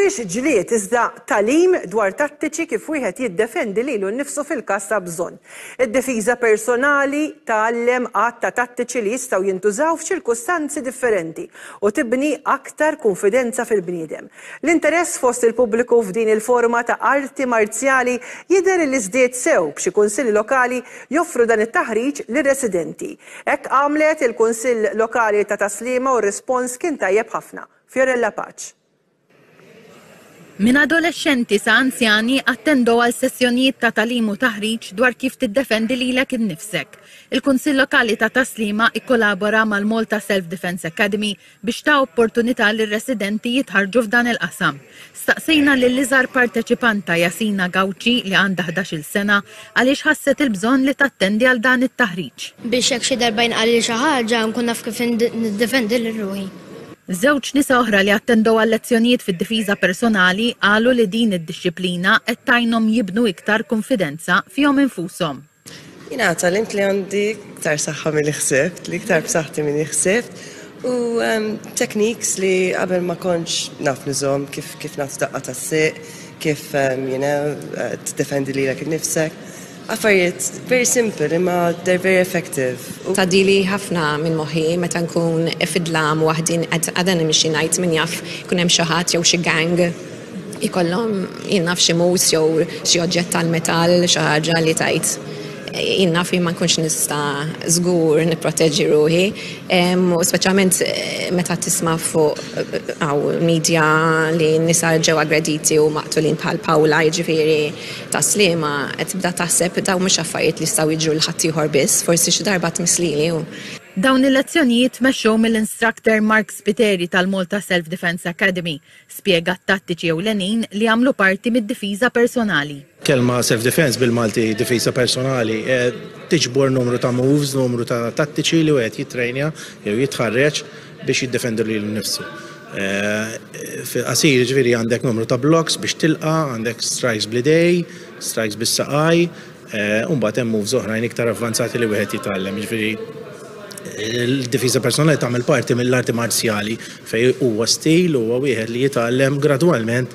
mhux ġlied iżda talim dwar tattiċi kif wieħed jiddefendi lilu nnifsu fil-każ ta' bżonn. Id-difiża personali tgħallem għadd ta' tattiċi li jistgħu jintużaw f'ċirkustanzi differenti u tibni aktar kunfidenza fil-bniedem. L-interess fost il-pubbliku f'din il-forma ta' arti marzjali jidher li żdied sew b'xi kunsilli lokali joffru dan it-taħriġ lir-residenti. Hekk għamlet il-Kunsill Lokali ta' Tas-Sliema u r-rispons kien tajjeb ħafna. Fiorella Paċ. Minn adolexxenti sa anzjani attendow għal sessjonijiet ta' tagħlim u taħriġ dwar kif tiddefendi lilek innifsek. Il-Kunsill Lokali ta' Tas-Sliema ikkolabora mal-Malta Self Defence Academy biex ta opportunità lir-residenti jitħarrġu f'dan il-qasam. Staqsejna lill-iżgħar parteċipanta Jasina Gauci li għandha ħdax-il sena għaliex ħasset il-bżonn li tattendi għal dan it-taħriġ. Biex jekk xi darba jinqalli xi ħaġa nkun naf kif niddefendi lil ruħi. Żewġ nisa oħra li attendew għal lezzjonijiet fid-difiża personali qalu li din id-dixxiplina qed tgħinhom jibnu iktar kunfidenza fihom infushom. Jiena tgħallimt li għandi iktar saħħa milli ħsibt, li iktar b'saħħti milli ħsibt u techniques li qabel ma kontx naf nużhom kif kif nagħti daqqa tas-sieq, kif you know tiddefendi lilek innifsek. Affarijiet very simple imma they're very effective. Tgħaddili ħafna minn moħħi meta nkun fid-dlam waħdi qed għada nimxi ngħid min jaf ikun hemm xi ħadd jew xi gang ikollhom jien naf xi mus jew xi oġġett tal-metall xi ħaġa li tgħid jien naf jien ma nkunx nista' żgur nipproteġi ruħi u speċjalment meta tisma' fuq hawn media li nisa ġew aggrediti u maqtulin bħal Pawla jiġifieri Ta' Sliema, qed tibda taħseb dawn mhux affarijiet li jistgħu jiġru lil ħaddieħor biss, forsi xi darba tmiss lili u. Dawn il-lezzjonijiet tmexxew mill-instructor Mark Spiteri tal-Malta Self Defence Academy. Spjega t-tattiċi ewlenin li jagħmlu parti mid-difiża personali. Kelma self defence bil-Malti difiża personali tiġbor numru ta' moves, numru ta' tattiċi li wieħed jittrejnja jew jitħarreġ. biex jiddefendi lilu nnifsu. Fil-qasir ġifieri għandek numru ta' blocks biex tilqa', għandek strikes bl-idej, strikes bis-saqaj, u mbagħad hemm moves oħrajn iktar avvanzati li wieħed jitgħallem. Ġifieri il-difiża personali tagħmel parti mill-arti marzjali fejn huwa stil huwa wieħed li jitgħallem gradwalment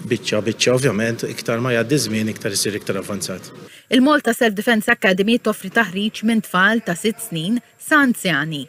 biċċa biċċa ovvjament iktar ma jgħaddi żmien iktar isir iktar avvanzat. Il-Malta Self Defence Academy toffri taħriġ minn tfal ta' sitt snin sa anzjani.